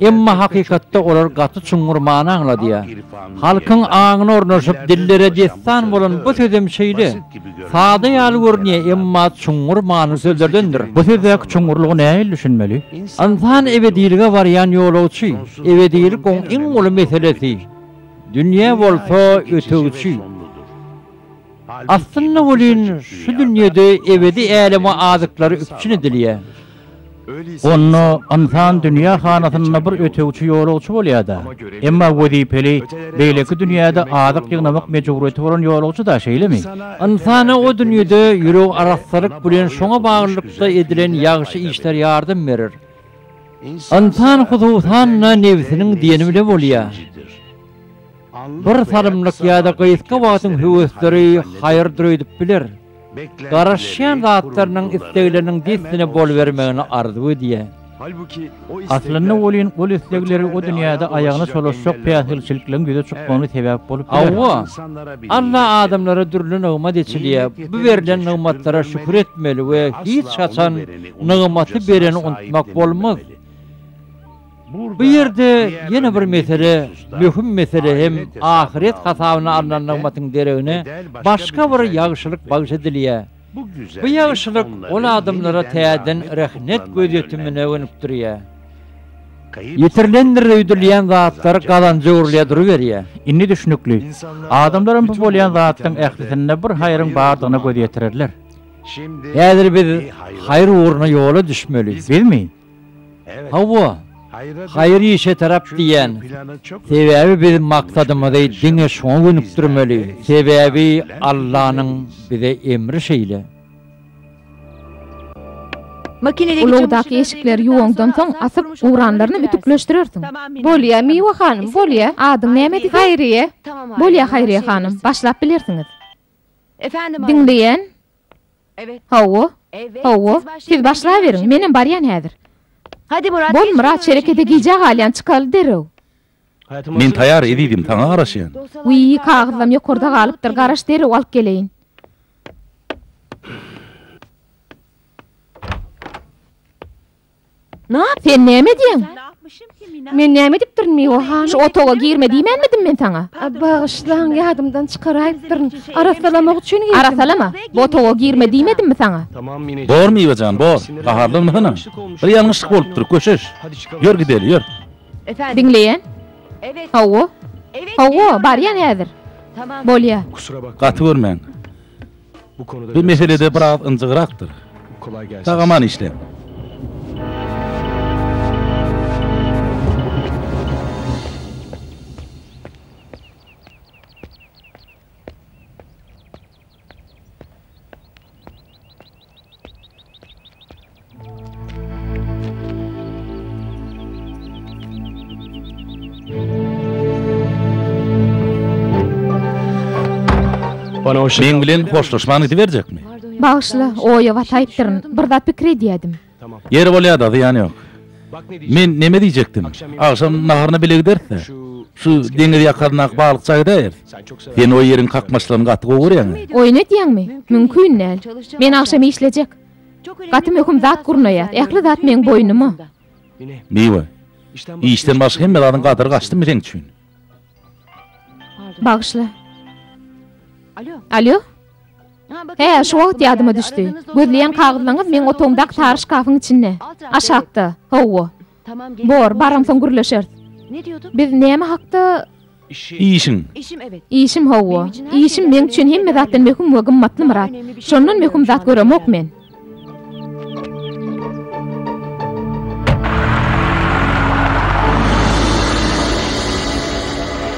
Emma hakykatda olar gaty çuňňur many aňladýar. Halkyň aňyna ornaşyp, dillere dessan bolan bu sözem şeýle. Sada ýaly görünýär, emma çuňňur manyly sözlerdendir. Bu sözdäki çuňňurlygy nähili düşünmeli? Ynsan ebedilige barýan ýolagçy. Ebedilik oň iň uly meselesi. Dünýe bolsa ötegçi. Aslynda welin, şu dünýede ebedi äleme azyklary üpjün edilýär. Onda ynsan dünýä hanasynda bir ötegçi ýolagçy bolýar-da. Emma wezipeli, beýleki dünýäde azyk ýygnamak mejburyýeti bolan ýolagçy-da, şeýlemi? Ynsana o dünýede ýüregi arassalyk bilen şoňa baglylykda edilen ýagşy işler ýardam berer. Ynsan hususan-da nebsiniň diýeni bilen bolýar. Bir salymlyk ýa-da gysga wagtyň höwesleri haýyrdyr öýdüp biler. Garaşýan zatlarynyň islegleriniň dessine bolubermegini arzuw edýär. Aslynda welin ol islegleri o dünýäde aýagyna çolaşjak päsgelçilikleň ýüze çykmagyna sebäp bolup biler. Hawa, Alla adamlara dürli nygmat eçilýär. Bu berlen nygmatlara şükür etmeli we hiç haçan nygmaty bereni unutmak bolmaz. Bu ýerde ýene bir mesele, möhüm mesele hem ahyret hasabyna alnan nygmatyň deregine başga bir ýagşylyk bagyş edilýär. Bu ýagşylyk ol adamlara täzeden rehnet gözýetimine gönükdirýär. Ýitirilendir öýdülýän zatlar gazanja öwrülýär duruberýär. Indi düşnükli. Adamlaram bu bolýan zatlaryň ählisinde bir haýryň bardygyna göz ýetirerler. Häzir biz haýyr ugruna ýola düşmeli. Bizmi? Hawa, haýyr işe tarap diýýän. Sebäbi biz maksadymyzy diňe şoňa gönükdirmeli, sebäbi Allanyň bize emri şeýle. Ulagdaky eşikleri ýuwaňdan soň asyp, guranlaryny ütükleşdirersiň. Bolýa, Miwe hanym, bolýa. Adyň näme diýseň? Haýryýe. Bolýa, Haýryýe hanym, başlap bilersiňiz. Diňleýän, Hawa, hawa, siz başlaberiň, menem barýan häzir. Bol, Myrat, şerekete gijä galýan, çykaly derrew. Men taýar, ezizim, saňa garaşýan. Wiý, kagyzlam ýokarda galypdyr, garaş, derrew alyp geleýin. Nap, sen näme edýäň? Men näme edipdirin, Miwa hanym? Şu otaga girme diýmänmidim men saňa? Bagyşlaň, ýadymdan çykaraýypdyryn. Arassalamak üçin girdim. Arassalama, bu otaga girme diýmedimmi saňa? Bor, Miwa jan, bor. Gaharlanma hynam. Bir ýalňyşlyk bolupdyr, köşeş. Ýör gideli, ýör. Diňleýän? Hawa. Hawa, barýan häzir. Bolýa. Gaty görmäň. Bu meselede biraz ynjygrakdyr. Sag aman işläň. Meň bilen hoşlaşman gidiberjekmi? Bagyşla, oýa bataýypdyryn. Bir zat pikir edýädim. Ýeri bolýa-da, zyýany ýok. Men näme diýjekdim? Agşam naharyna bile gideris-dä. Şu deňiz ýakaryndaky balykçyga gidäýeris. Sen o ýeriň kakmaçlaryny gaty gowy görýäň-ä. Oýun edýäňmi? Mümkin däl. Men agşam işlejek. Gaty möhüm zat gurnaýas. Ähli zat meň boýnuma. Miwe. Işden başga hemme zadyň gadyry gaçdymy seň üçin? Bagyşla. Alýo. Hä, şu wagt ýadyma düşdi. Gözleýän kagyzlaňyz meň otagymdaky sary şkafyň içinde. Aşakda. Hawa. Bor, baramsoň gürleşeris. Biz näme hakda? Işiň. Işim, hawa. Işim meň üçin hemme zatdan möhüm we gymmatly, Myrat. Şondan möhüm zat göremok men.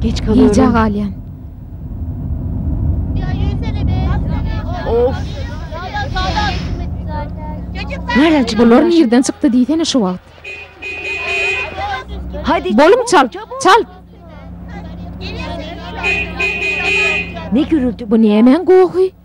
Geç galyň. Gijä galýan. Of. Näleç bular nirden çykdy diýsene şu wagt. Hadi. Bolum çal. Çal. Ne gürüldi bu nämäň gohy?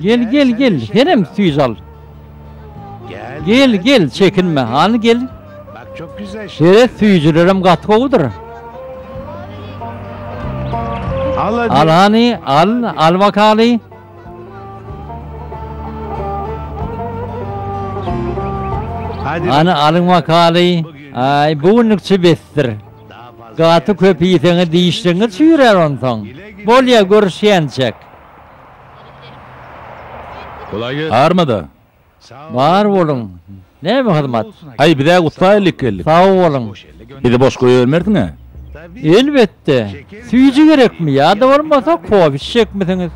Gel gel gel herem süýz al. Gel gel çekinme hany gel. Bak çok güzel şey. Seret süýjülerim gaty gowudyr. Al hany al al bakaly. Ana alyň makaly. Aý, bu günlük çy besdir. Gaty köp iýseňiz dişliňiz çüýrär onsoň. Bolýa görüşýänçäk. Armada. Bar boluň. Näme hyzmat? Aý, biz-ä gutsaýlyk geldik. Sag boluň. Bizi boş goýbermersiň-ä? Elbetde. Süýji gerekmi ýa-da bolmasa kofe içjekmisiňiz?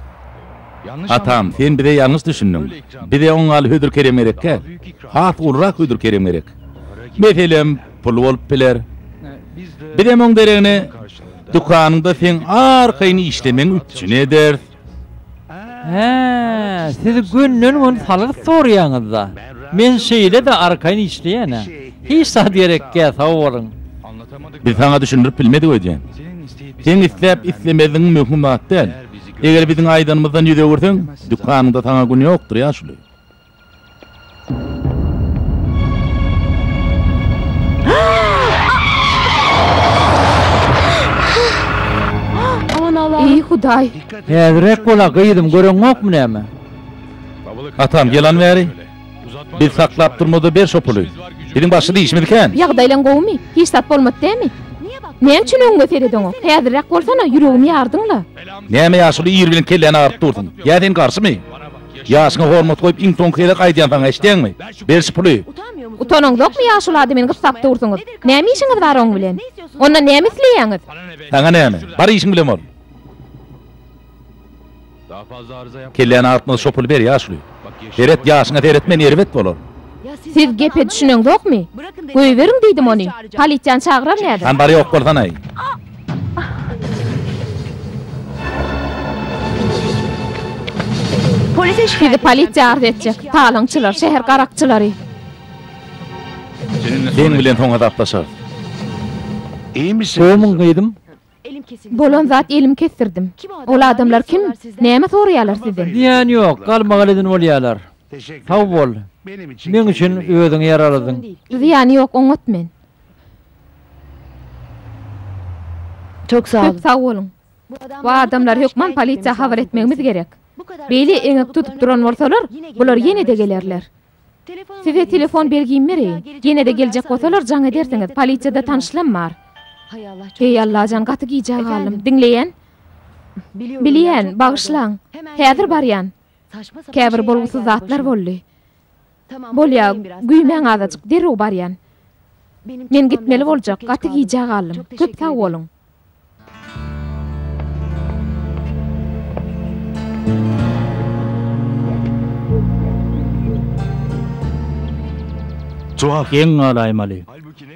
Atam, sen bize ýalňyş düşündiň. Bize oň ýaly hödür-kerem gerek däl. Has ulurak hödür-kerem gerek. Meselem, pul bolup biler. Bizem oň deregine, dükanyňda seň arkaýyn işlemegiň üpjün ederis. Hä, siz günden-gün salgyt soraýaňyz-da. Men şeýle-de arkaýyn işleýän-ä. Hiç zat gerekkä, sag boluň. Biz saňa düşündirip bilmedik öýdýän. Seň isläp-islemezigiň möhüm zat däl. Eger biziň aýdanymyzdan ýüz öwürseň, dükanyňda saňa gün ýokdur ýaşuly. Eý Hudaý! Häzirräk bol-a, gyzym, göreňokmy näme? Atam, ýylan bäri. Biz saklap durmaz-a ber şo puly. Biziň başga-da işimiz kän. Ýagdaýlaň gowumy? Hiç zat bolmady dämi? Näme üçin öňüňe seredeňok? Häzirräk bolsana, ýüregimi ýardyň-la. Näme ýaşuly ir bilen kelläni agyryp dursuň? Ýa sen garşymy? Ýaşyňa hormat goýup iň soňky gezek aýdýan saňa eşdeňmi? Ber şu puly. Utanyňzokmy ýaşuly adamyny gyssap dursuňyz. Näme işiňiz bar oň bilen? Ondan näme isleýäňiz? Saňa näme? Bar işiň bilen bol. Kelläni agyrtma şo puly ber ýaşuly. Seret ýaşyňa seret men erbet bolar. Siz gepe düşüneňzokmy? Goýberiň diýdim ony. Polisiýany çagyrar nädip? Hany bar ýok bolsanaý. Sizi polisiýa arz etjek. Talaňçylar, şäher garakçylary. Sen bilen soň hasaplaşarys. Goýmuň gyzym. Bolan zat elim kesdirdim. Ol adamlar kim? Näme soraýarlar sizden? Diýen ýok, galmagal edin bolýarlar. Sag bol. Meň üçin özüňi ýaraladyň. Zyýany ýok, oňat men. Köp sag boluň. Bu adamlary hökman polisiýa habar etmegimiz gerek. Beýle eňek tutup duran bolsalar, bular ýene-de gelerler. Size telefon belgimi bereýin. Ýene-de geljek bolsalar jaň edersiňiz, polisiýada tanyşlam bar. Heý Allajan gaty gijä galdym. Diňleýän? Bilýän, bagyşlaň. Häzir barýan. Käbir bolgusyz zatlar boldy. Bolýa, güýmäň azajyk, derrew barýan. Men gitmeli boljak, gaty gijä galdym. Köp sag boluň. Jogap. Geň galaýmaly.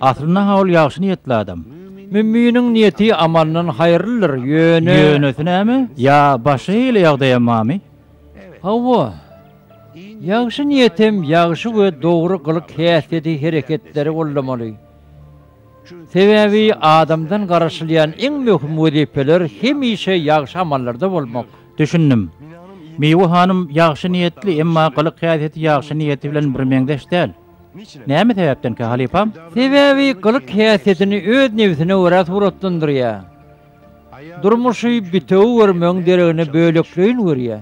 Aslynda-ha ol ýagşy niýetli adam. Müminiň niýeti amalyndan haýyrlydyr, ýöne. Ýönesi näme? Ýa başga hili ýagdaýam barmy? Hawa. Ýagşy niýet hem ýagşy we dogry gylyk-häsiýeti, hereketleri goldamaly. Sebäbi adamdan garaşylýan iň möhüm wezipeler hemişe ýagşy amallarda bolmak. Düşündim. Miwe hanym ýagşy niýetli, emma gylyk-häsiýeti ýagşy niýeti bilen birmeňzeş däl. Näme sebäpdenkä, halypam? Sebäbi gylyk-häsiýetini öz nebsine görä suratlandyrýar. Durmuşy bitewi görmegiň deregine bölekleýin görýär.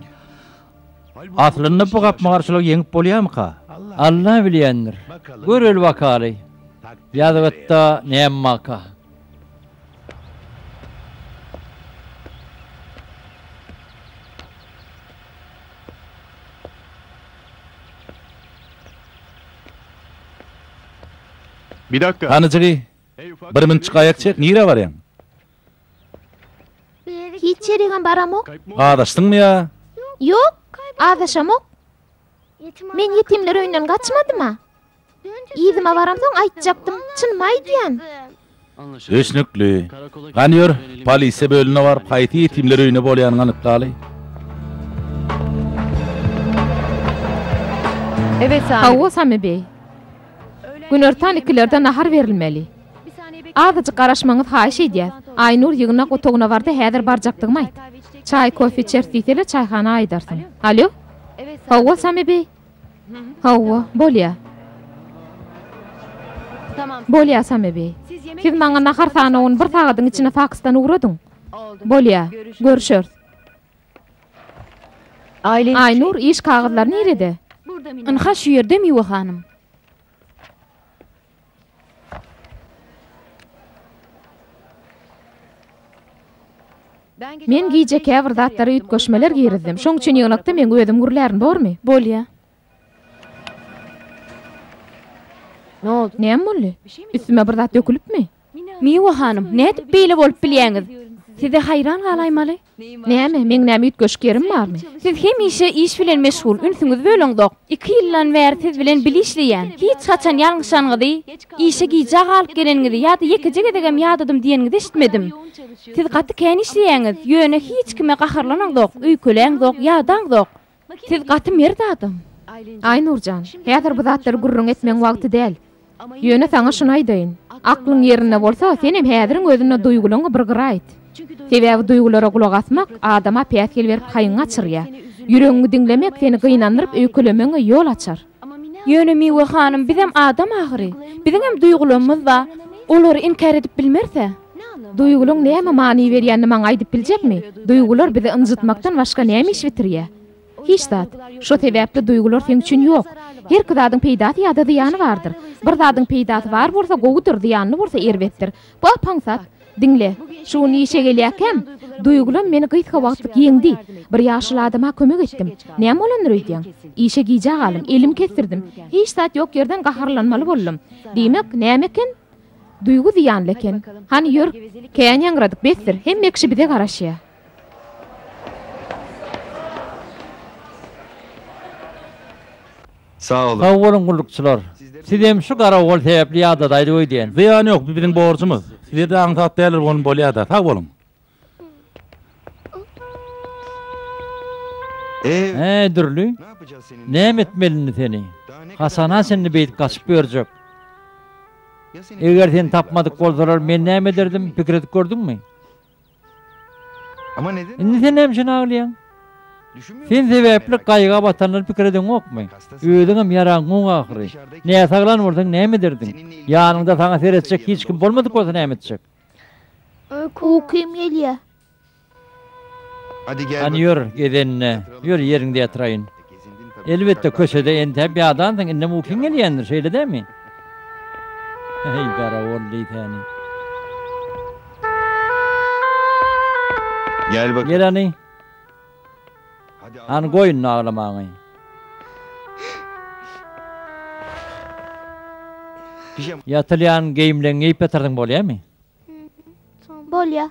Aslynda bu gapma-garşylygy ýeňip bolýarmyka? Alla bilýändir. Göreli bakaly, ýazgytda näme barka? Hany jygy, bir münçik aýak çek, nirä barýaň? Hiç ýerigem baramok. Azaşdyňmy ýa? Ýok, azaşamok. Men ýetimler öýünden gaçmadym-a. Yzyma baramsoň aýtjakdym, çynymy aýdýan. Düşnükli. Gani ýör, polisiýa bölümine baryp haýsy ýetimler öýünde bolýanyňy anyklaly. Hawa, Sami beý. Günortan ikilerde nahar berilmeli. Azajyk garaşmaňyz haýyş eýdýäs. Aýnur ýygnak otagyna bardy, häzir barjakdygymy aýt. Çaý, kofe içeris diýsele çaýhana aýdarsyň. Alýo? Hawa, Sami beý? Hawa, bolýar. Bolýar, Sami beý. Siz maňa nahar sanawyny bir sagadyň içinde faksdan ugradyň. Bolýar. Görüşeris. Aýnur, iş kagyzlary nirede? Ynha, şu ýerde, Miwe hanym. Men gije käbir zatlara üýtgeşmeler girizdim. Şoň üçin ýygnakda meň özüm gürlärin, bormy? Bolýa. Näme boldy? Üstüme bir zat dökülipmi? Miwa hanym, nädip beýle bolup bilýäňiz? Size haýran galaýmaly. Näme, meň näme üýtgeşik ýerim barmy? Siz hemişe iş bilen meşgul, ünsüňizi böleňzok. Iki ýyldan bäri siz bilen bile işleýän. Hiç haçan ýalňyşanyňyzy, işe gijä galyp geleniňizi ýa-da ýekeje gezegem ýadadym diýeniňizi eşitmedim. Siz gaty kän işleýäňiz, ýöne hiç kime gaharlanaňzok, öýkeläňzok, ýadaňzok. Siz gaty mert adam. Aýnur jan, häzir bu zatlary gürrüň etmegiň wagty däl. Ýöne saňa şuny aýdaýyn. Aklyň ýerinde bolsa, senem häziriň özünde duýgulaňy bir gyra aýt. Sebäbi duýgulara gulak asmak adama päsgel berip haýyňy gaçyrýar. Ýüregiňi diňlemek seni gynandyryp öýkelemegiňe ýol açar. Ýöne Miwe hanym bizem adam ahyry, biziňem duýgularymyz ba, olary inkär edip bilmeris-ä. Duýgulyň näme many berýänini maňa aýdyp biljekmi? Duýgular bizi ynjytmakdan başga näme iş bitirýä? Hiç zat. Şo sebäpli duýgular seň üçin ýok. Herki zadyň peýdasy ýa-da zyýany bardyr. Bir zadyň peýdasy bar bolsa gowudyr, zyýanly bolsa erbetdir. Wah, paňsat, diňle, şu gün işe gelýärkäm, duýgulam meni gysga wagtlyk ýeňdi. Bir ýaşuly adama kömek etdim. Näme bolandyr öýdýäň? Işe gijä galdym, elim kesdirdim. Hiç zat ýok ýerden gaharlanmaly boldum. Diýmek, näme eken? Duýgy zyýanly eken. Hany, ýör! Kän ýaňradyk, besdir, hemme kişi bize garaşýar. Sag olun. Sag boluň gullukçylar. Siz hem şu garawul sebäpli ýadadaýda öýdýän. Zyýany ýok, bu biziň borjumyz. Sizler de aňsat däldir bolan bolýada. Sag boluň. Äý Dürli, näme etmeli indi seni? Haçana çenli beýdip gaçyp ýörjek? Eger seni tapmadyk bolsalar men näme ederdim, pikir edip gördüňmi? Indi sen näme üçin aglaýaň? Sen sebäpli gaýga batanlary pikir edeňokmy? Özüňem ýaraňok ahyry. Näsaglan bolsaň näme ederdiň? Ýanyňda saňa seretjek hiç kim bolmadyk bolsa näme etjek? Ukym gelýär. Hany ýör, gezenine. Ýör, ýeriňde ýatyraýyn. Elbetde, köçede entäp ýadansyň, indem ukyň gelýändir, şeýle dälmi? Heý, garagol deý säni! Gel hany! Hany, goý indi aglamagyňy! Ýatylýan geýimleňi geýip ýatyrsyň, bolýamy? Bolýa.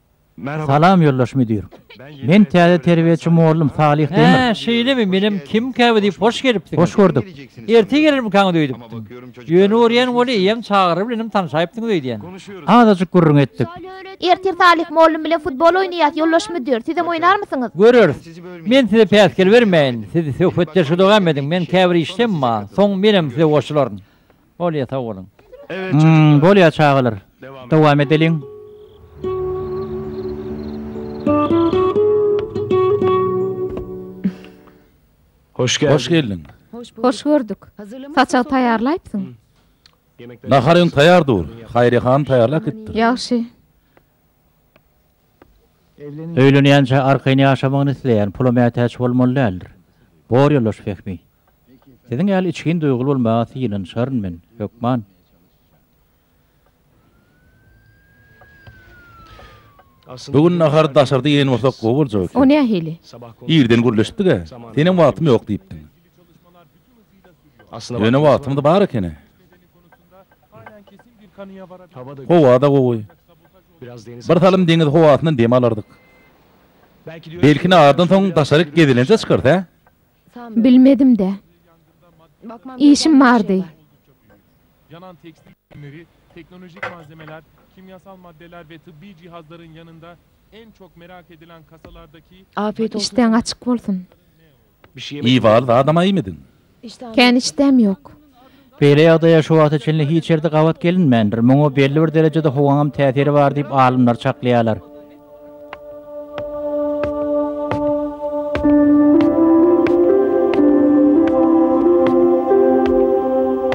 Salam ýoldaş müdir. Men täze terbiýeçi mollum Salyh Demir. Hä, şeýlemi, menem kim käbä diýip hoş gelipdim. Hoş gördük. Erte gelermikaňyz öýdüpdim. Ýöne görýän weli eýýäm çagyry bilenem tanyşaýypdyňyz öýdýän. Azajyk gürrüň etdik. Ertir Salyh mollum bilen futbol oýnaýas ýoldaş müdir. Sizem oýnarmysyňyz? Göreris. Men size päsgel bermäýin. Siz söhbetdeşi dowam ediň. Men käbir işdemma. Soň menem size goşularyn. Bolýa sag boluň. Bolýa çagalar dowam edeliň. Hoş geldiň. Hoş gördük. Saçagy taýýarlaýypsyň. Nahar öň taýýar dur. Haýriýa hanym taýýarlap gitdir. Ýagşy. Öýlenýänçä arkaýyn ýaşamagyny isleýän pula mätäç bolmaly däldir. Bor ýoldaş Fehmi. Siziň ýaly içgin duýguly bolmaga synanyşaryn men, hökman. Bu gün nahary daşarda iýen bolsak gowy boljak eken. O nähili? Irden gürleşdik-ä. Senem wagtym ýok diýipdiň. Ýöne wagtymyz bar ekeni. Howa-da gowy. Birsalym deňiz howasyndan dem alardyk. Belki nahardan soň daşaryk gezelenje çykarys, hä? Bilmedim-dä. Işim bardy. Işdäň açyk bolsun. Iý bar zadam aýmydyň. Kän işdäm ýok. Beýle ýagdaýa şu wagta çenli hiç ýerde gabat gelinmändir. Muňa belli bir derejede howaňam täsiri bar diýip alymlar çaklaýarlar.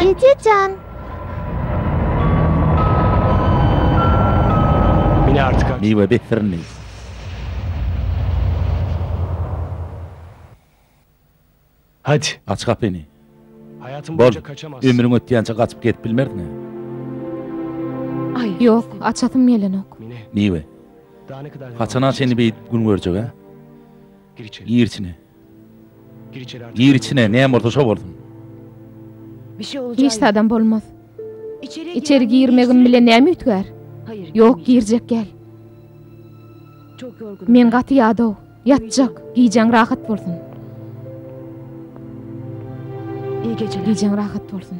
Eje jan. Mine artık aç. Miwe bet syrynly. Hadi. Aç gapyny. Hayatyn Bol. boyunca kaçamazsyn. Ömrüň ötýänçe gaçyp gezip bilmersiň-ä. Aý, ýok, açasym gelenok. Mine. Miwe. Daha ne kadar devam Haçana edeceğiz çenli böyle? beýdip gün görjek-ä? Gir içine. Gir içine, näme bolsa şo bolsun. Hiç zadam bolmaz. Içeri girmegim bilen näme üýtgär? Ýok, girjek gel. Men gaty ýadaw. Ýatjak. Gijäň rahat bolsun. Gijäň rahat bolsun.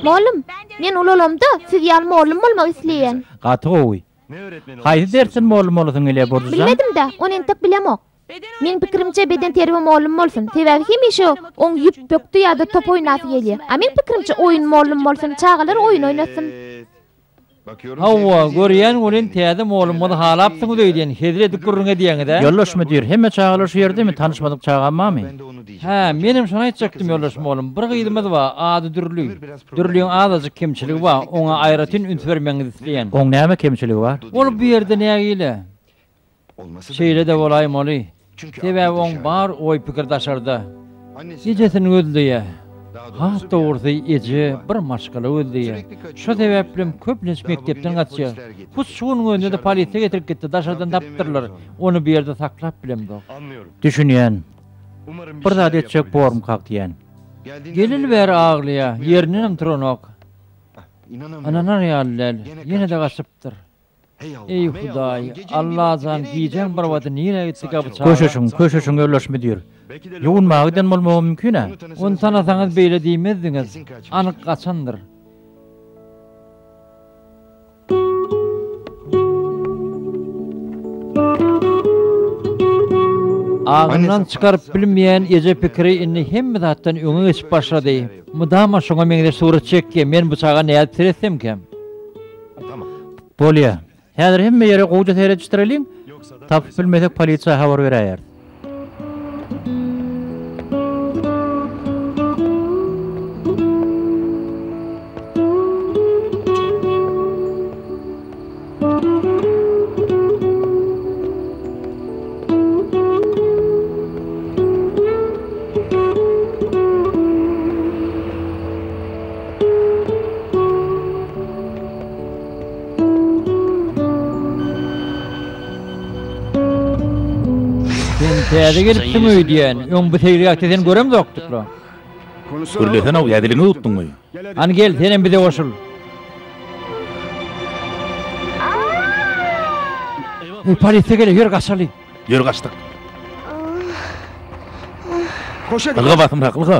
Mollum, men ulalamda siz ýaly mollum bolmak isleýän. Gaty gowy. Haýsy dersiň mollum bolasyň gelýär Borjjan? Bilmedim-dä, ony entek bilemok. Meň pikirimçe beden terbiýe mollum bolsun, sebäbi hemişe oň ýüp bökdi ýa-da top oýnasy gelýär. A meň pikirimçe oýun mollum bolsun, çagalar oýun oýnasyn. Hawa, görýän welin täze molumyzy halapsyňyz öýdýän, hezil edip gürrüň edýäňiz-ä? Ýoldaş müdir, hemme çagalar şu ýerdemi, tanyşmadyk çagam barmy? Hä, menem şony aýtjakdym, ýoldaş molum, bir gyzymyz bar, ady Dürli. Dürliň azajyk kemçiligi bar, oňa aýratyn üns bermegiňizi isleýän. Oň näme kemçiligi bar? Ol bu ýerde nägile? Şeýle-de bolaýmaly, sebäbi oň bar oý-pikiri daşarda. Ejesini gözleýär. Has dogrusy, eje bir maşgala gözleýär. Şo sebäplem köplenç mekdepden gaçýar. Hut şu günüň özünde-de polisiýa getirip gitdi, daşardan tapdyrlar. Ony bu ýerde saklap bilemzok. Düşünýän. Bir zat etjek bormkak diýýän. Geleli bäri aglaýar, ýerindenem turanok. Ynanynar ýaly däl, ýene-de gaçypdyr. Eý Hudaý, Allajan gijäň bir wagty nirä gitdi ga bu çaga? Köşeşiň, köşeşiň Örleş müdir. Ýuwunmaga giden bolmagy mümkin-ä. Ony tanasaňyz beýle diýmezdiňiz. Anyk gaçandyr. Agzyndan çykaryp bilmeýän eje pikiri indi hemme zatdan öňe geçip başlady. Mydama şoňa meňzeş surat çekýä, men bu çaga nädip seretsemkä? Bolýa. Häzir hemme ýere gowja seredişdireliň. Tapyp bilmesek polisiýa habar beräýeris. Täze gelipsiň öýdýän. Öň bu seýilgähde seni göremzokdyk la. Gürlesene-ow, ýa diliňi ýutduňmy? Hany gel, senem bize goşul. Eý, polisiýa geler, ýör gaçaly. Ýör gaçdyk. Ylga basymrak, ylga.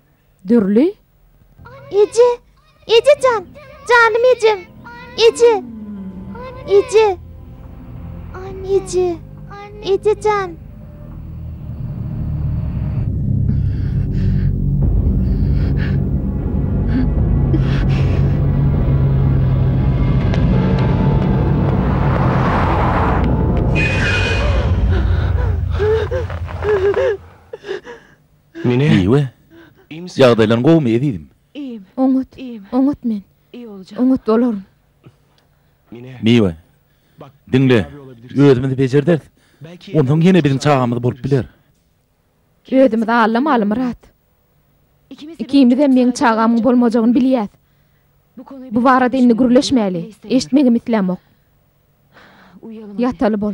Dürli Eje! Eje jan! Janym ejem! Eje! Eje! Eje! Eje jan! Miwe, ýagdaýlaryň gowumy, ezizim? Oňat, oňat men. Oňat bolaryn. Miwe, diňle, özümiz bejerderis. Onsoň ýene biziň çagamyz bolup biler. Özümiz allamaly, Myrat. Ikimizem meň çagamyň bolmajagyny bilýäs. Bu barada indi gürleşmäli. Eşitmegem islämok. Ýataly bol.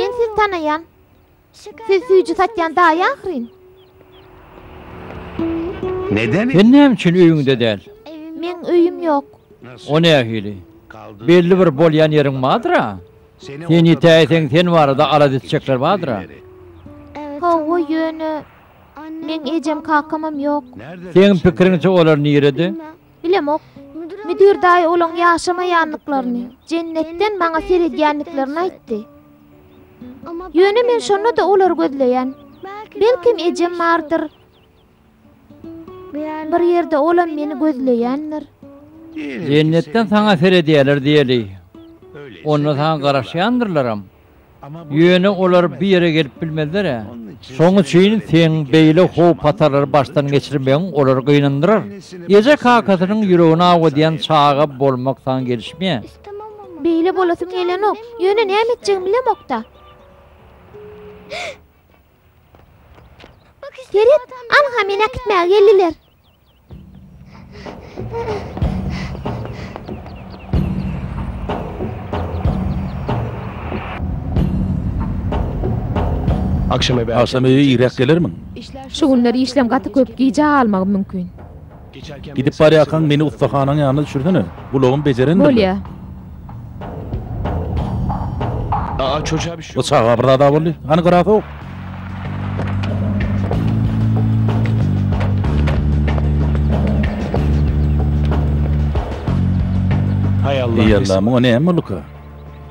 Men sizi tanaýan. Siz süýji satýan daýy ahyryn. Sen näme üçin öýüňde däl? Meň öýüm ýok. O nähili? Belli bir bolýan ýeriň bardyr-a? Sen ýitäýseň sen barada alada etjekler bardyr-a? Hawa, ýöne. Meň ejem kakamam ýok. Seň pikiriňçe olar nirede? Bilemok. Müdir daýy olaň ýaşamaýandyklaryny, jennetden maňa seredýändiklerini aýtdy. Ýöne men şonda-da olary gözleýän. Belkem ejem bardyr. Bir ýerde olam meni gözleýändir. Jennetden saňa seredýärler diýeli. Onda saňa garaşýandyrlaram. Ýöne olar bu ýere gelip bilmezler-ä. Şoň üçin seň beýle howp-hatarlary başdan geçirmegiň olary gynandyrar. Eje-kakasynyň ýüregini awudýan çaga bolmak saňa gelişmeýär. Beýle bolasym gelenok. Ýöne näme etjegimi bilemok-da. Sered, anha meni äkitmäge geldiler. Agşam öýe irräk gelermiň? Şu günler işlem gaty köp, gijä galmagym mümkin. Gidip barýarkaň meni ussahanaň ýanyna düşürsene. Gulagym bejerendirler. Bolýa. Aa çocuğa bir şey Bu oldu. çaga bir zada boldy. Hany grafok? Hay Allah. Ey Allah, muňa näme bolduka?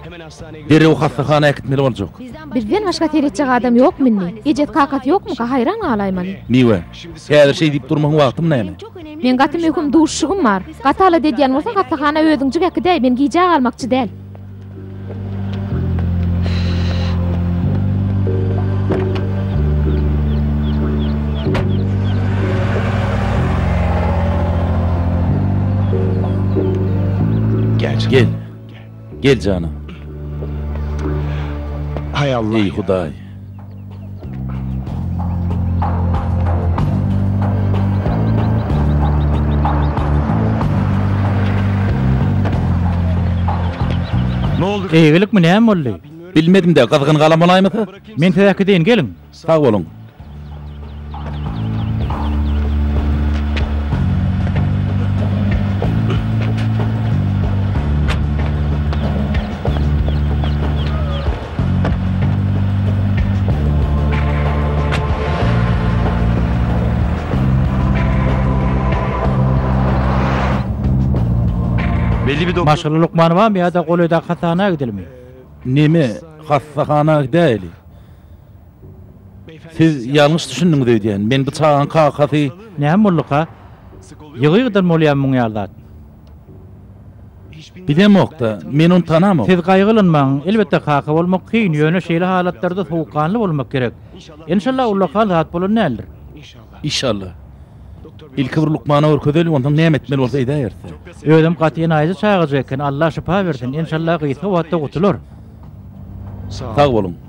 Hemen hastaneye götür. Derew hassahana äkitmeli boljak. Bizden başga seretjek adam ýokmy indi? Ejes kakasy ýokmuka haýran galaýman. Miwe. Häzir şeý diýip durmagyň wagtym näme? Meň gaty möhüm duşuşygym bar. Gaty alada edýän bolsaň hassahana özüňjik äkidäý, men gijä galmakçy däl. Gel. Gel janam. Hay Allah. Ey Hudaý. Eýgilikmi näme boldy? Bilmedim-de, gyzgyn galam bolaýmasa? Men size äkideýin, geliň. Sag boluň. Maşgala lukmanybamy ýa-da golaýdaky hassahana gidilimi? Neme, hassahana gidäýeli. Siz ýalňyş düşündiňiz öýdýän. Men bu çagaň kakasy. Näme bolduka? Ýygy-ýygydan bolýamy muň ýaly zat? Bilemok-da. Men ony tanamok. Siz gaýgylanmaň. Elbetde, kaka bolmak kyn, ýöne şeýle halatlarda sowukganly bolmak gerek. Enşalla, ullakan zat bolan däldir. Işalla. Ilki bir lukmana görkezeli, onsoň näme etmeli bolsa edäýerse. Özem gaty enaýyja çagajyk eken. Alla şypa bersin. Enşalla gysga wagtda gutular. Sag boluň.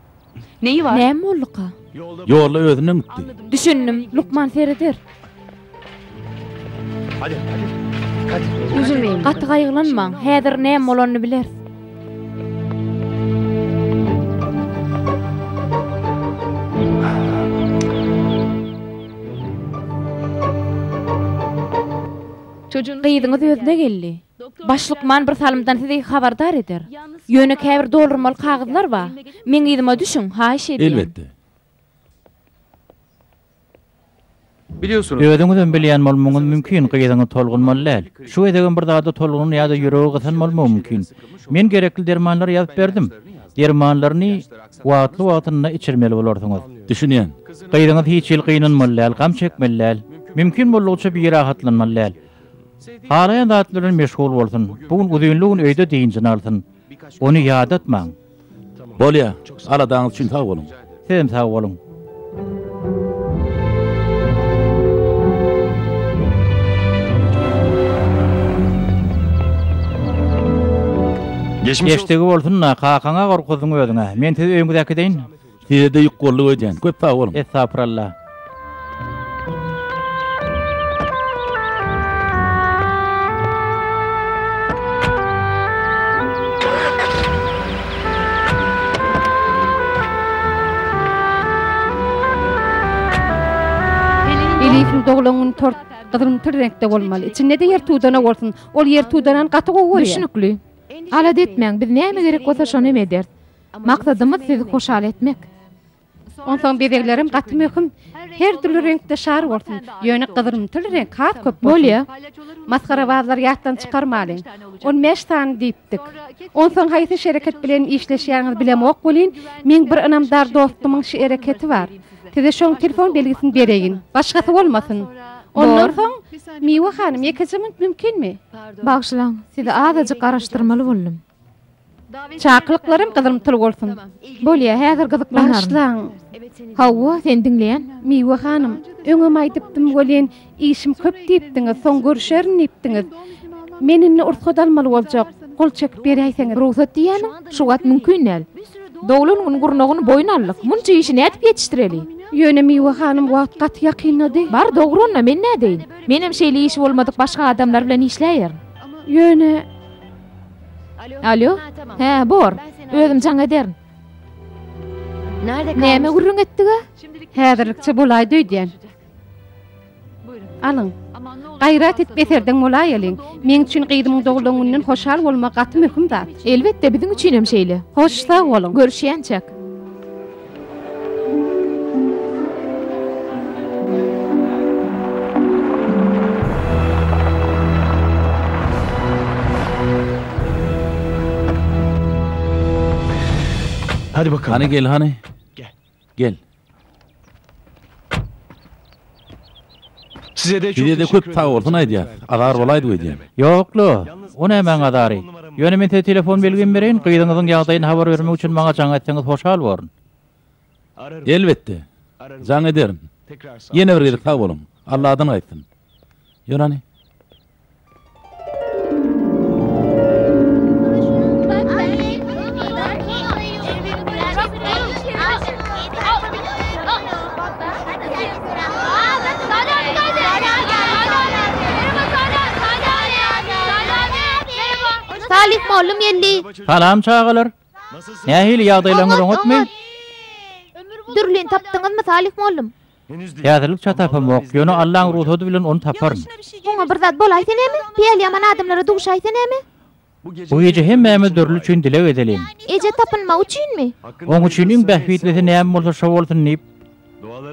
Neyi bar? Näme bolduka? Ýolda özünden gitdi. Düşündim. Lukman sereder. Üzülmeýin. Gaty gaýgylanmaň. Häzir näme bolanyny bileris. Gyzyňyz özüne geldi. Baş lukman bir salymdan sizi habardar eder. Ýöne käbir doldurmaly kagyzlar bar. Meň yzyma düşüň, haýyş edýän. Elbetde. Özüňizem bilýän bolmagyňyz mümkin, gyzyňyz tolgunmaly däl. Şu gezegem bir zada tolgunan ýa-da ýüregi gysan bolmagy mümkin. Men gerekli dermanlary ýazyp berdim. Dermanlaryny wagtly-wagtynda içirmeli bolarsyňyz. Düşünýän. Gyzyňyz hiç hili gynanmaly däl, gam çekmeli däl. Mümkin boldugyça birahatlanmaly däl. Halaýan zat bilen meşgul bolsun, bu gün uzynly gün öýde dynjyny alsyn. Ony ýadatmaň. Bolýar. Aladaňyz üçin sag boluň. Sizem sag boluň. Geçdigi bolsun-da, kakaňa gorkuzdyň özüň-ä. Men sizi öýüňize äkideýin. Sizede ýük bolluk öýdýän. Köp sag boluň. Estapyrallah. Elifin doglan gün tort gyzylymtyr reňkde bolmaly. Içinde-de ýer tudana bolsun. Ol ýer tudanan gaty gowy görýär. Düşnükli. Alada etmäň, biz näme gerek bolsa şonam ederis. Maksadymyz sizi hoşal etmek. Onsoň bezeglerem gaty möhüm. Her dürli reňkde şar bolsun. Ýöne gyzylymtyl reňk has köp bolsun. Bolýar. Masgarabazlary ýatdan çykarmalyň. On bäş sany diýipdik. Onsoň haýsy şereket bilen işleşýäňizi bilemok welin, meň bir ynamdar dostumyň şereketi bar. Size şoň telefon belgisini bereýin. Başgasy bolmasyn. Ondan soň, Miwe hanym, ýekeje minut mümkinmi? Bagyşlaň, sizi azajyk garaşdyrmaly boldum. Çakylyklaram gyzymtyl bolsun. Bolýa, häzir gyzyklanaryn. Bagyşlaň. Hawa, seni diňleýän, Miwe hanym. Öňem aýdypdym welin, işim köp diýipdiňiz, soň görüşerin diýipdiňiz. Men indi ursat almaly boljak. Gol çekip beräýseňiz. Rugsat diýýäniň, şu wagt mümkin däl. Doglan gün gurnagyny boýun aldyk. Munça işi nädip ýetişdireli? Ýöne, Miwe hanym, wagt gaty ýakynlady. Bar, dogry-onda, men nädeýin? Menem şeýle işi bolmadyk başga adamlar bilen işläýerin. Ýöne. Alýo? Hä, bor. Özüm jaň ederin. Näme gürrüň etdig-ä? Häzirlikçe bolaýdy öýdýän. Alyň. Gaýrat edip eserdeň bolaýalyň. Meň üçin gyzymyň doglan gününden hoşal bolmak gaty möhüm zat. Elbetde, biziň üçinem şeýle. Hoş, sag boluň. Görüşýänçäk. Hany gel, hany. Gel. Size-de köp sag bolsun aýdýas. Azar bolaýdyp öýdýän. Ýok-la, o nämäň azary. Ýöne men size telefon belgimi bereýin, gyzyňyzyň ýagdaýyny habar bermek üçin maňa jaň etseňiz hoşal borun. Elbetde, jaň ederin. Ýene bir gezek sag boluň. Alladan gaýtsyn. Ýörhany. Salam çagalar. Nähili ýagdaýlaryňyz oňatmy? Dürlini tapdyňyzmy Salih mollum? Häzirlik çat tapamok, ýöne Allaň rugsady bilen ony taparyn. Oňa bir zat bolaýsa näme? Päli ýaman adamlara duşaýsa näme? Bu gije hemmämiz Dürli üçin dileg edeliň. Eje tapynmagy üçinmi? Oň üçin iň bähbitlisi näme bolsa şo bolsun diýip,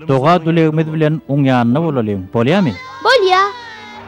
doga-dülegimiz bilen Oň ýanynda bolalyň. Bolýamy? Bolýa!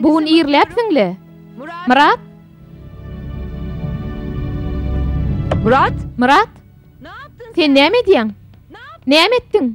Bu gün irläpsiň-le, Myrat? Myrat? Myrat? Sen näme edýäň? Näme etdiň?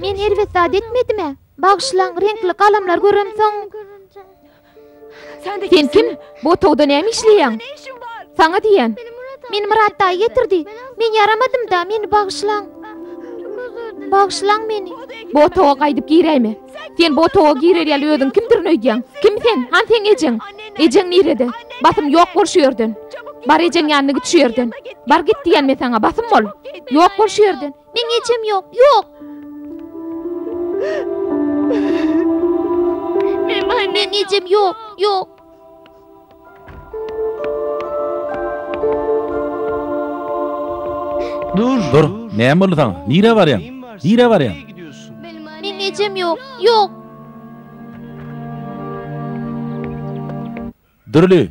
Men erbet zat etmedimä? Bagyşlaň, reňkli galamlary göremsoň. Sen kim? Bu otagda näme işleýäň? Saňa diýýän. Meni Myrat daýy getirdi. Men ýaramadym-da, meni bagyşlaň. Bagyşlaň meni. Bu otaga gaýdyp giräýme. Sen bu otaga girer ýaly özüň kimdirin öýdýäň? Kim sen? Han seň ejeň? Ejeň nirede? Basym, ýok bol şu ýerden! Bar ejeň ýanyna git şu ýerden! Bar git diýýän men saňa, basym bol! Ýok bol şu ýerden! Meň ejem ýok, ýok! Meň ejem ýok, ýok! Dur, näme boldy saňa? Nirä barýaň? Nirä barýaň? Meniň ejem ýok, ýok. Dürli.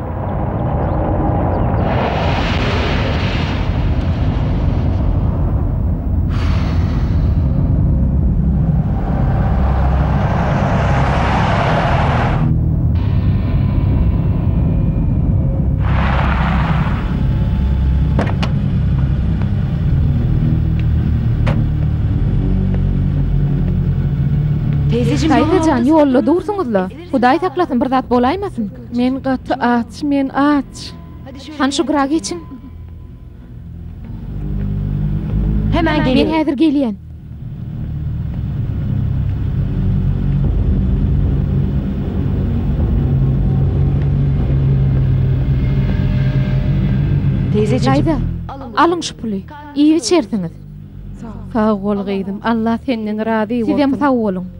Taýzajan ýolda dursuňyzla. Hudaý saklasyn bir zat bolaýmasyn. Men gaty aç, men aç. Han şu gyra geçiň. Hemen Men gelin. häzir gelýän. Teyzeciğim. Daýza, alyň şu puly. Iýip içersiňiz. Sag bol gyzym. Allah senden razy bolsun. Sizem sag boluň.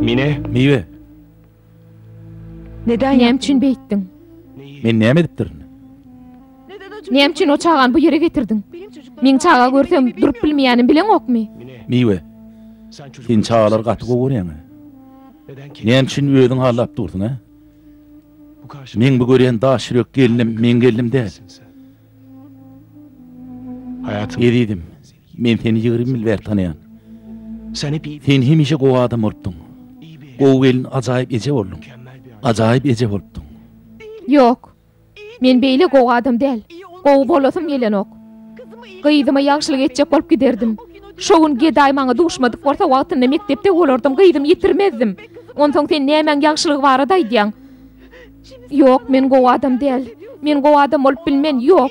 Mine, miwe. Neden Näme yaptın? üçin beýtdiň? Men näme edipdirin? Näme üçin o çagany bu ýere getirdiň? Meň çaga görsem durup bilmeýänim bileňokmy? Miwe. Sen çagalar gaty gowy görýäňä. Näme üçin özüň hallap dursuň, hä? Meň bu görýän daş ýürek gelnim meň gelnim däl. Ezizim, men seni ýigrimi ýyl bäri tanaýan. Sen hemişe gowy adam bolupdyň. Gowy gelin, ajaýyp eje bolduň. Ajaýyp eje bolupdyň. Ýok. Men beýle gowy adam däl. Gowy bolasym gelenok. Gyzyma ýagşylyk etjek bolup giderdim. Şo gün gedaý maňa duşmadyk bolsa, wagtynda mekdepde bolardym, gyzymy ýitirmezdim. Onsoň sen nämäň ýagşylygy barada aýdýaň? Ýok, men gowy adam däl. Men gowy adam bolup bilmen. Ýok.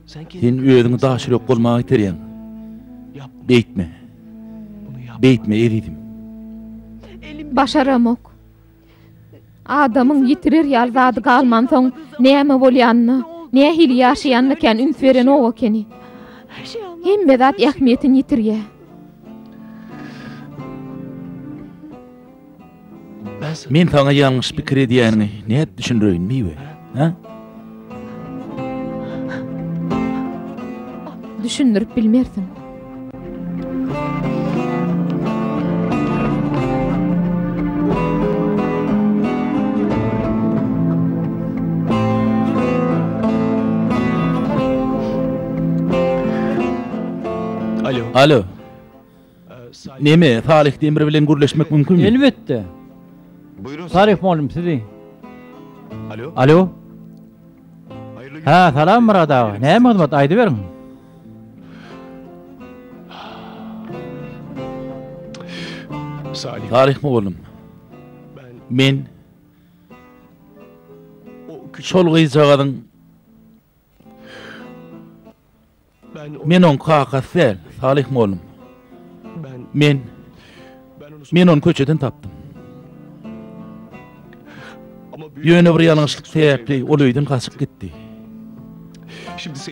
Sen özüňi daş ýürek bolmaga iterýäň. Beýtme. Beýtme, ezizim. Başaramok. Adamyň ýitirer ýaly zady galmansoň, näme bolýanyna, nähili ýaşaýanyna kän üns berenok ekeni. Hemme zat ähmiýetini ýitirýär. Men saňa ýalňyş pikir edýäniňi nädip düşündireýin, Miwe? Hä? Düşündirip bilmersiň. Alo. Alo. Neme, Salyh Demir bilen gürleşmek mümkinmi? Elbetde. Salyh mugallym sizi. Alo. Hä, salam Myrat aga. Näme hyzmat, aýdyberiň. Salyh mugallym. Men şol gyzjagazyň Men oň kakasy däl, Salyh mollum. Men. Men ony köçeden tapdym. Ýöne bir ýalňyşlyk sebäpli ol öýden gaçyp gitdi.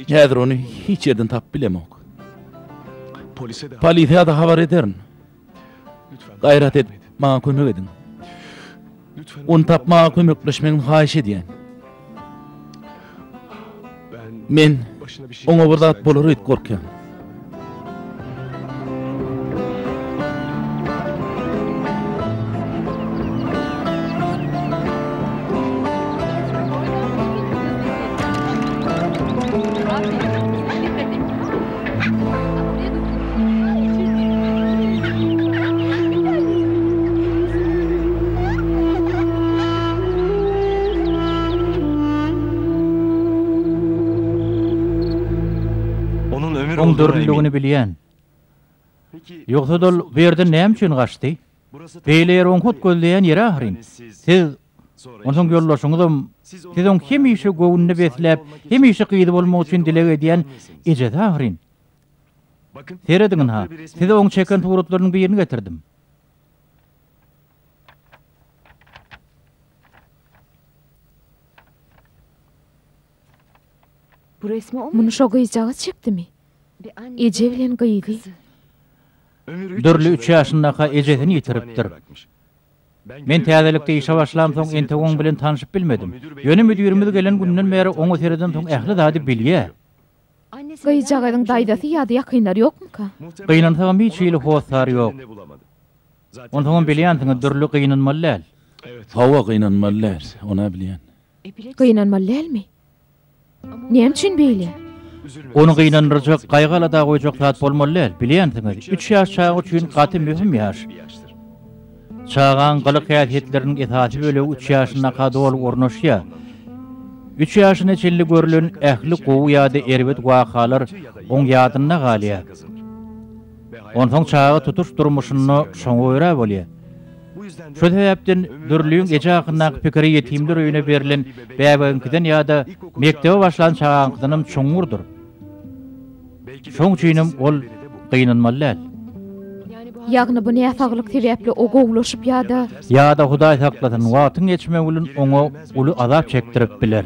Häzir ony hiç ýerden tapyp bilemok. Polisiýa-da habar ederin. Gaýrat edip, maňa kömek ediň. Ony tapmaga kömekleşmegiňizi haýyş edýän. Men oňa bir zat bolar öýdüp gorkýan. Onuň dürliligini bilýän. Ýogsad ol bu ýerden näme üçin gaçdy? Beýle ýer oň hut gözleýän ýeri ahyryn. Siz Onsoň ýoldaşyňyzam, siz oň hemişe göwnüni besläp, hemişe gyzy bolmak üçin dileg edýän ejesi ahyryn. Serediňin-ha, size oň çeken suratlarynyň birini getirdim. Muny şo gyzjagaz çekdimi? Eje bilen gyzy. Dürli üç ýaşyndaka ejesini ýitiripdir. Men täzelikde işe başlamsoň entek oň bilen tanşyp bilmedim. Ýöne müdirimiz gelen günden bäri oňa seredensoň ähli zady bilýä. Gyzjagazyň daýzasy ýa-da ýakynlary ýokmyka? Gynansagam hiç hili hossary ýok. Onsoňam bilýänsiňiz dürli gynanmaly däl. Hawa gynanmaly däl. Onä bilýän. Gynanmaly dälmi? Näme üçin beýle? Ony gynandyrjak, gaýgy-alada goýjak zat bolmaly däl. Bilýänsiňiz, üç ýaş çaga üçin gaty möhüm ýaş. Çagaň gylyk-häsiýetleriniň esasy bölegi üç ýaşyndaka doly ornaşýar. Üç ýaşyna çenli görlen ähli gowy ýa-da erbet wakalar oň ýadynda galýar. Onsoň çaga tutuş durmuşynda şoňa görä bolýar. Şo sebäpden Dürlüň eje hakyndaky pikiri ýetimler öýüne berlen bäbegiňkiden ýa-da mekdebe başlan çagaňkydanam çuňňurdyr. Şoň üçinem ol gynanmaly däl. Ýagny bu näsaglyk sebäpli o gowulaşyp ýa-da. Ýa-da Hudaý saklasyn, wagtyň geçmegi bilen oňa uly azap çekdirip biler.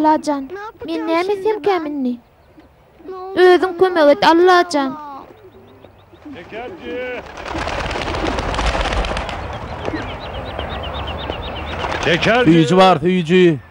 Allajan, men näme etsemkäm indi? Özüň kömek et, Allajan! Söýüji bar, söýüji!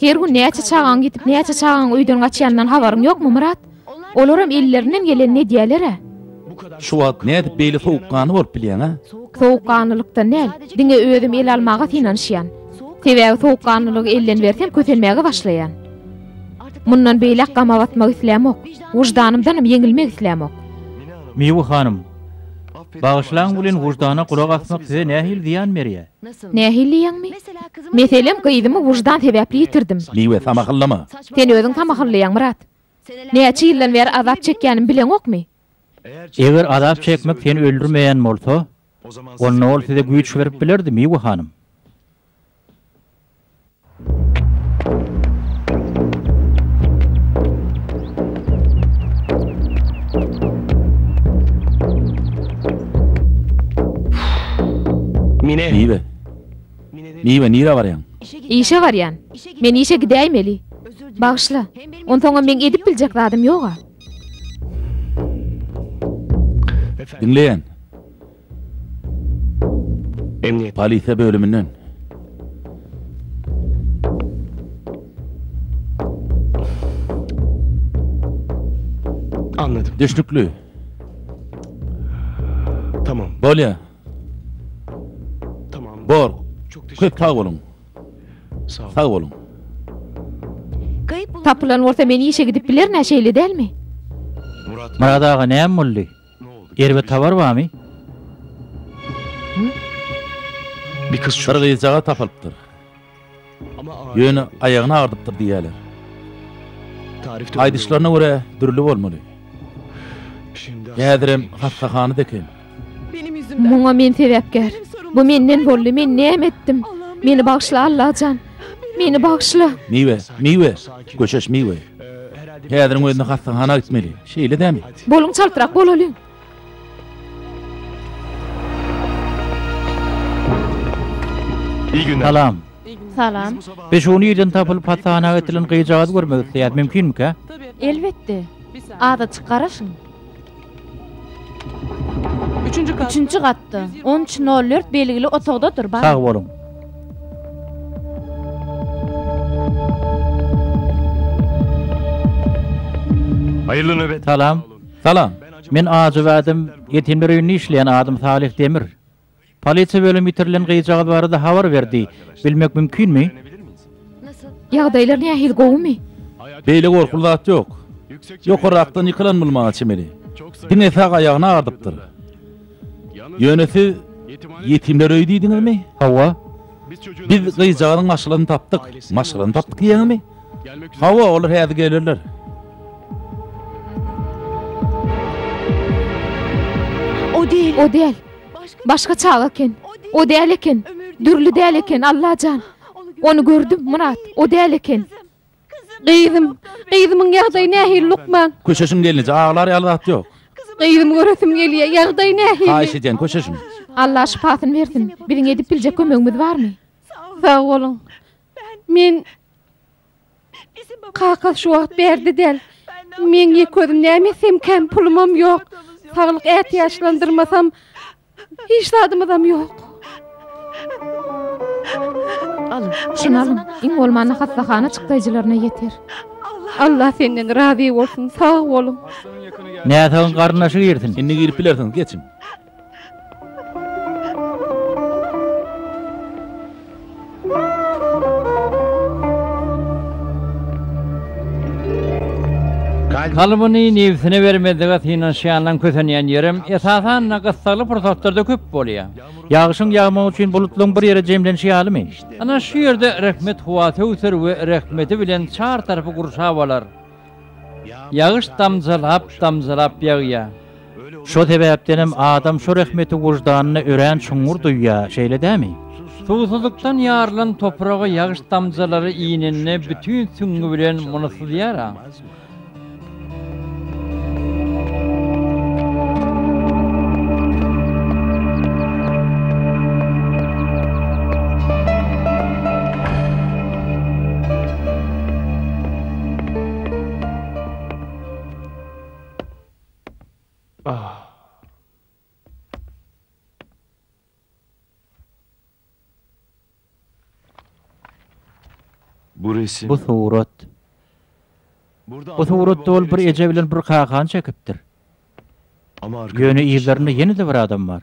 Her gün näçe çagaň ýitip, näçe çagaň öýden gaçýanyndan habaryň ýokmy, Myrat? Olaram ellerinden gelenini edýäler-ä. Şu wagt nädip beýle sowukganly bolup bilýäň, a? Sowukganlylykdan däl, diňe özüm el almaga synanyşýan. Sebäbi sowukganlylygy elden bersem kösenmäge başlaýan. Mundan beýläk gama batmak islämok. Wyždanymdanam ýeňilmek islämok. Miwe hanym, bagyşlaň welin wyždana gulak asmak size nähili zyýan berýär? Nähili ýaňmy? Meselem, gyzymy wyždan sebäpli ýitirdim. Miwe, samahyllama! Sen özüň samahyllaýaň, Myrat. Näçe ýyldan bäri azap çekýänimi bileňokmy? Eger azap çekmek seni öldürmeýän bolsa, onda ol size güýç berip bilerdi, Miwe hanym. Niwe. Niwe, nirä barýaň? Işe barýan. Men işe gidäýmeli. Bagyşla. Onsoňam meň edip biljek zadym ýog-a. Diňleýän. Emniýet. Polisiýa bölüminden. Anladym. Düşnükli. Tamam. Bolýar. Tamam. Bor. Çok teşekkür Köp sag boluň. Sağ olun. Sag boluň. Tapylan bolsa men işe gidip bilernä şeýle dälmi? Murat. Myrat aga näme boldy? Erbet habar barmy? Bir gyzjagaz tapylypdyr. Ýöne aýagyny agyrdypdyr diýýärler. Aýdyşlaryna görä, dürli bolmaly. Häzirem hassahana-da eken. Muňa men sebäpkär. Bu menden boldy. Men näme etdim? Meni bagyşla, Allajan. Meni bagyşla. Miwe, miwe. Göçeş miwe. Häziriň özünde hassahana gitmeli. Şeýle dämi? Boluň çaltrak bolalyň. Salam. Salam. Biz şuny ýerden tapylyp hassahana getilen gyzjagazy görmek isleýäs. Mümkinmika? Elbetde. Aza çykaraşyň. Üçünji gatda, on üç, nol dört belgili otagdadyr, baryň. Sag boluň. Haýyrly nöbet. Salam. Salam. Men ajy we adam ýetimler öýünde işleýän adym Salyh Demir. Polisiýa bölümi ýitirilen gyzjagaz barada habar berdi. Bilmek mümkinmi? Ýagdaýlar nähili, gowumy? Beýle gorkuly zat ýok. Ýokarrakdan ýykylan bolmaga çemeli. Diňe sag aýagyny agardypdyr. Ýöne siz ýetimler öýi diýdiňizmi? Hawa. Biz gyzjagazyň maşgalasyny tapdyk. Maşgalasyny tapdyk diýýäňizmi? Hawa, olar häzir gelerler. O däl. Başga çaga eken. O däl eken. Dürli däl eken, Allajan. Ony gördüm, Myrat. O däl eken. Gyzym. Gyzymyň ýagdaýy nähili, lukman? Köşeşiň gelneje, aglar ýaly zat ýok. Gyzymy göresim gelýär. Ýagdaýy nähili? Haýyş edýän, köşeşiň. Allah şypasyny bersin. Biziň edip biljek kömegimiz barmy? Sag boluň. Men Kakasy şu wagt bärde däl. Meň ýek özüm näme etsem, kän pulumam ýok. Saglyk ätiýaçlandyrmasam, hiç zadymyzam ýok. Al, şuny alyň, iň bolmanda hassahana çykdaýjylaryna ýeter. Allah senden razy bolsun, sag boluň. Näsagyň garyndaşy girsin. Indi girip bilersiňiz, geçiň. Kalbyny nebsine bermezlige synanyşýanlaň kösenýän ýerem, esasan-da, gyssagly pursatlarda köp bolýar. Ýagyşyň ýagmagy üçin bulutlaň bir ýere jemlenişi ýalymy? Ana, şu ýerde rehmet howa töwser we rehmeti bilen çar tarapy gurşap alar. Ýagyş damjalap-damjalap ýagýar. Şo sebäpdenem adam şo rehmeti wyždanyna örän çuňňur duýýar, şeýle dämi? Suwsuzlykdan ýarylan topraga ýagyş damjalary inende bütin süňňi bilen muny syzýar-a. Bu surat. Bu suratda ol bir eje bilen bir kakany çekipdir. Ýöne yzlarynda ýene-de bir adam bar.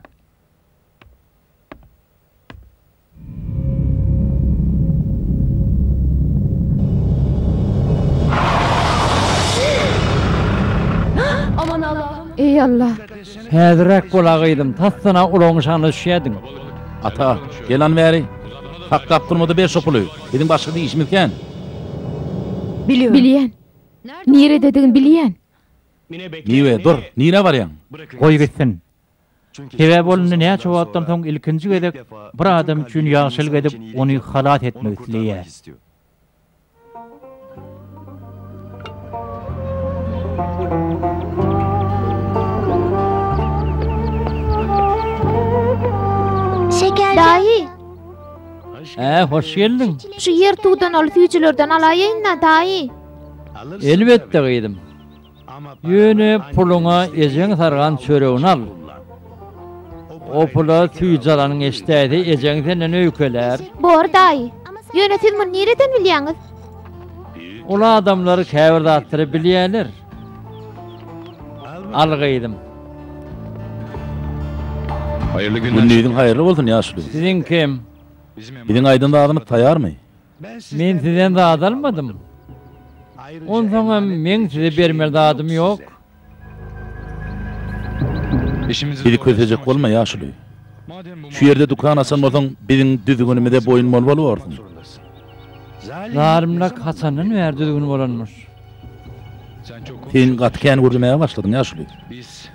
Eý Allah! Häzirräk bol-a gyzym, tassana ulagyň şanyna düşýärdiň. Ata, gelan bäri, Hakda Abdylmyda ber şo puly, biziň başga işimiz kän. Bilýän. Nirededigini bilýän. Niwe, dur, nirä barýaň? Goý gitsin. Sebäbi ol indi näçe wagtdan soň ilkinji gezek bir adam üçin ýagşylyk edip, ony halas etmek isleýär. Daýy! Ä, hoş geldiň! Şu ýertuwdan ol süýjülerden alaýaýyn-da, daýy! Elbetde, gyzym. Ýöne puluňa ejeň sargan çöregini al. O pula süýji alanyňy eşidäýse, ejeň senden öýkelär. Bor, daýy. Ýöne siz muny nireden bilýäňiz? Uly adamlar käbir zatlary bilýärler. Al, gyzym. Gündiziň haýyrly bolsun, ýaşuly. Siziňkem. Biziň aýdan zadymyz taýarmy? Men sizden zat almadym. Onsoň hem meň size bermeli zadym ýok. Bizi kösejek bolma, ýaşuly. Şu ýerde dükan açan bolsaň, biziň düzgünimize boýun bolmaly borsuň. Zalymlyk haçandan bäri düzgün bolanmyş? Sen gaty kän gürlemäge başladyň, ýaşuly.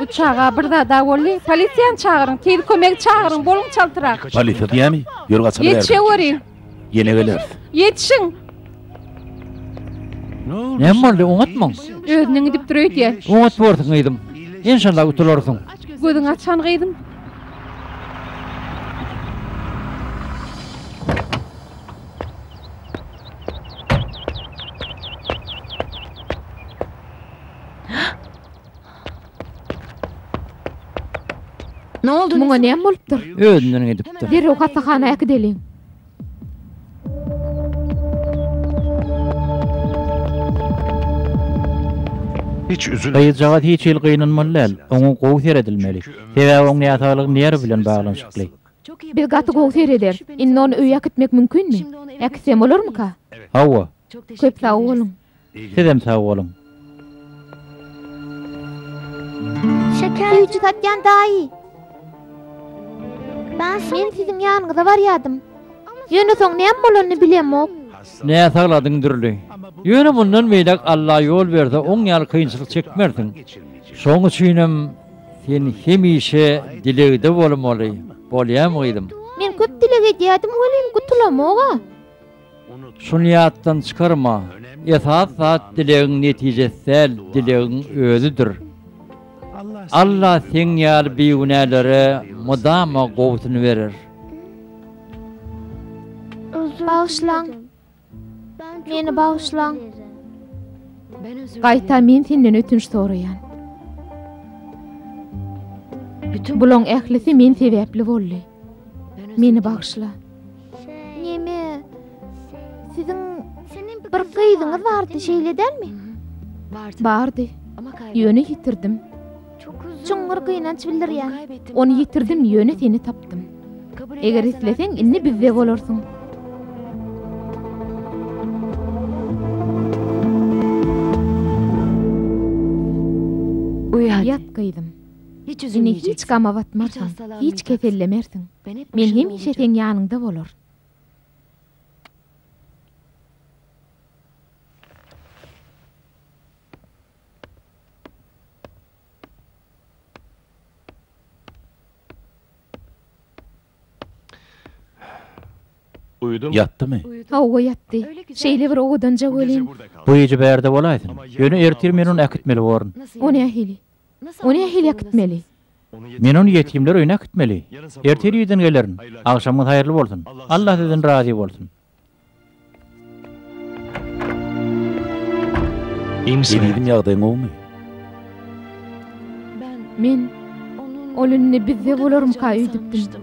Bu çaga bir zada boldy. Polisiýany çagyryň, tiz kömegi çagyryň, boluň çaltrak. Polisiýa diýýämi? Ýör gaçaly bärden. Ýetişeweriň. Ýene geleris. Ýetişiň. Näme boldy, oňatmyň? Özüniň gidip dur öýdýä. Oňat borsuň gyzym. Enşalla gutularsyň. Gözüňi açan gyzym. Ne oldu? Muňa näme bolupdyr? Özünden gidipdir. Derrew hassahana äkideliň. Hiç üzülme. Gyzjagaz hiç hili gynanmaly däl. Oňa gowy seredilmeli. Sebäbi oň näsaglygy nerw bilen baglanyşykly. Biz gaty gowy serederis. Indi ony öýe äkitmek mümkinmi? Äkitsem bolarmyka? Hawa. Köp sag boluň. Sizem sag boluň. Süýji satýan daýy. Men siziň ýanyňyza barýadym. Ýöne soň näme bolanyny bilemok. Nä sagladyň dürli. Ýöne mundan beýläk Alla ýol berse oň ýaly kynçylyk çekmersiň. Şoň üçinem sen hemişe dilegde bolmaly. Bolýamy gyzym? Men köp dileg edýädim welin gutulamog-a. Şuny ýatdan çykarma, esas zat dilegiň netijesi däl, dilegiň özüdir. Alla seň ýaly bigünälere mydama gowusyny berer. Bagyşlaň! Meni bagyşlaň! Gaýta men senden ötünç soraýan. Bulaň ählisi men sebäpli boldy. Meni bagyşla. Neme? Siziň bir gyzyňyz bardy, şeýle dälmi? Bardy. Ýöne ýitirdim. Çuňňur gynanç bildirýän. Ony ýitirdim, ýöne seni tapdym. Eger isleseň, indi bizde bolarsyň. Uýat gyzym. Ine hiç gama batmarsyň, hiç kesellemersiň. Men hemişe seň ýanyňda bolaryn. Ýatdymy? Hawa, ýatdy. Şeýle bir owadanja welin. Bu gije bärde bolaýsyn. Ýöne ertir men ony äkitmeli borun. O nähili? O nähili äkitmeli? Men ony ýetimler öýüne äkitmeli. Erte irden gelerin. Agşamyňyz haýyrly bolsun. Allah sizden razy bolsun. Ezizim ýagdaýyň gowumy? Men Ol indi bizde bolarmyka öýdüpdim.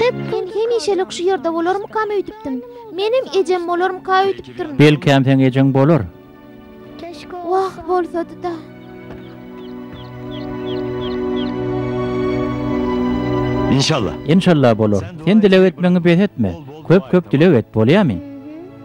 Hep men hemişelik şu ýerde bolarmykam öýdüpdim. Menem ejem bolarmyka öýdüpdirin. Belkäm seň ejeň bolar. Wah, bolsady-da. Inşallah. Inşallah bolar. Sen dileg etmegiňi bes etme. Köp-köp dileg et, bolýamy?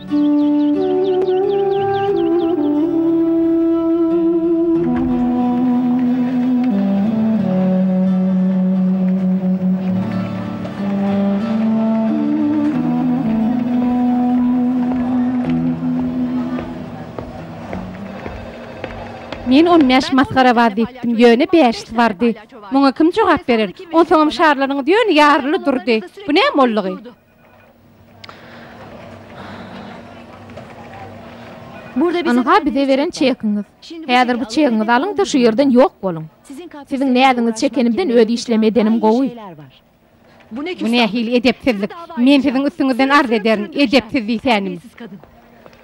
Men on bäş masgara bar diýipdim, ýöne bäşisi bardy. Muňa kim jogap berer? Onsoňam şarlaryňyz ýöne ýaryly durdy. Bu näme boldugy? Ynha bize beren çekiňiz. Häzir bu çegiňizi alyň-da şu ýerden ýok boluň. Siziň näziňizi çekenimden öz işlem edenim gowy. Bu nähili edepsizlik. Men siziň üstüňizden arz ederin, edepsiz diýsänim.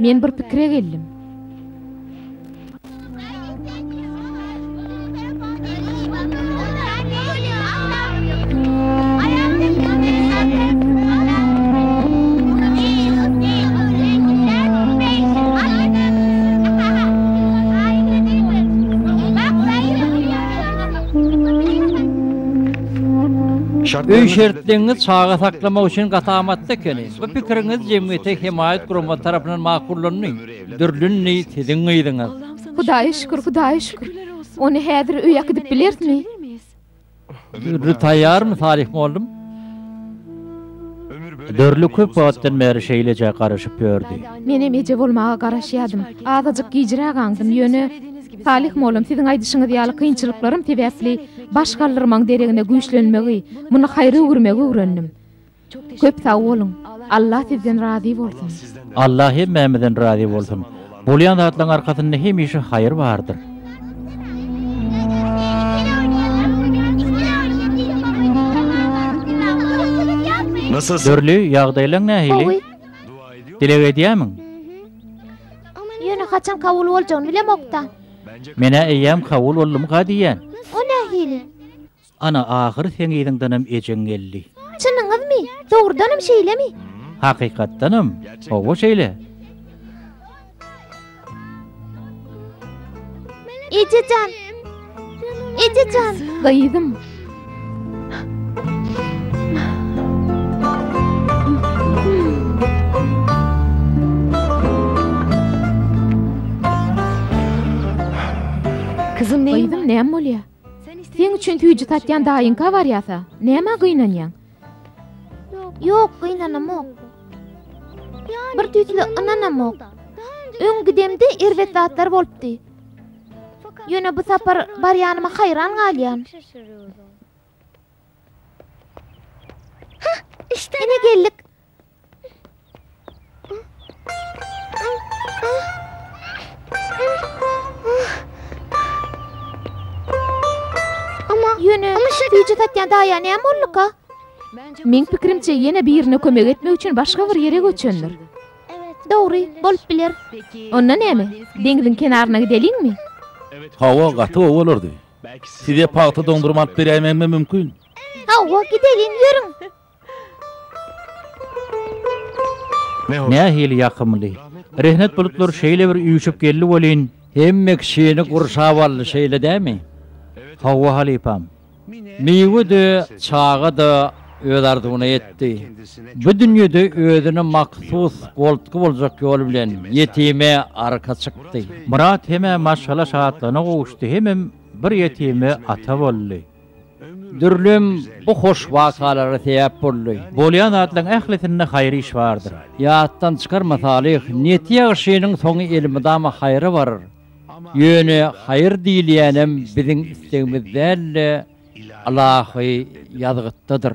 Men bir pikire geldim. Öý şertleňiz çaga saklamak üçin gaty amatly ekeni. Bu pikiriňiz jemgyýete hemaýat gurama tarapyndan makullandy. Dürlündi siziň gyzyňyz. Hudaýa şükür, Hudaýa şükür. Ony häzir öý akydyp bilerismi? Dürli taýýarmy, Salyh mollum? Dürli köp wagtdan bäri şeýleje garaşyp ýördi. Menem eje bolmaga garaşýadym. Azajyk gijräk aňdym, ýöne, Salyh mollum, siziň aýdyşyňyz ýaly kynçylyklarym sebäpli baş galdyrmaň deregine güýçlenmegi, muny haýra öwürmegi öwrendim. Köp sag boluň. Allah sizden razy bolsun. Allah hemmämizden razy bolsun. Bolýan zatlaň arkasynda hemişe haýyr bardyr. Dürli, ýagdaýlaň nähili? Dileg edýämiň? Ýöne haçan kabul boljagyny bilemokda. Menä eýýäm kabul boldumyka diýýän. O nähili? Ana, ahyry seň yzyňdanam ejeň geldi. Çynyňyzmy? Dogrudanam şeýlemi? Hakykatdanam, hawa şeýle. Eje jan! Eje jan! Gyzym! Gyzym, näme bolýar? Seň üçin süýji satýan daýyňka barýasa, nämä gynanýaň? Ýok, gynanamok. Bir tüýsle ynanamok. Öň gidemde erbet zatlar bolupdy. Ýöne bu sapar barýanyma haýran galýan. Hah, ine geldik. Ýöne, süýji satýan daýa näme bolduka? Meň pikirimçe, ýene birine kömek etmek üçin başga bir ýere göçendir. Dogry, bolup biler. Onda näme, deňziň kenaryna gideliňmi? Hawa, gaty gowy bolardy. Size pagta doňdurymy alyp berýäýmegim hem mümkin. Hawa, gideliň, ýörüň! Nähili ýakymly! Rehnet bulutlary şeýle bir üýşüp geldi welin. Hemme kişini gurşap aldy, şeýle dämi? Hawa, halypam. Miwe-de, çaga-da öz arzuwyna ýetdi. Bu dünýede özüne mahsus goltgy boljak ýol bilen ýetime arka çykdy. Myrat hem-ä maşgala şatlygyna gowuşdy, hemem bir ýetime ata boldy. Dürlem bu hoş wakalara sebäp boldy. Bolýan zatlaryň ählisinde haýyr iş bardyr. Ýatdan çykarma salyh niýeti ýagşynyň soňy elmydama haýyra barar. Ýöne haýyr diýilýänem biziň islegimiz däl-de, ylahy ýazgytdadyr.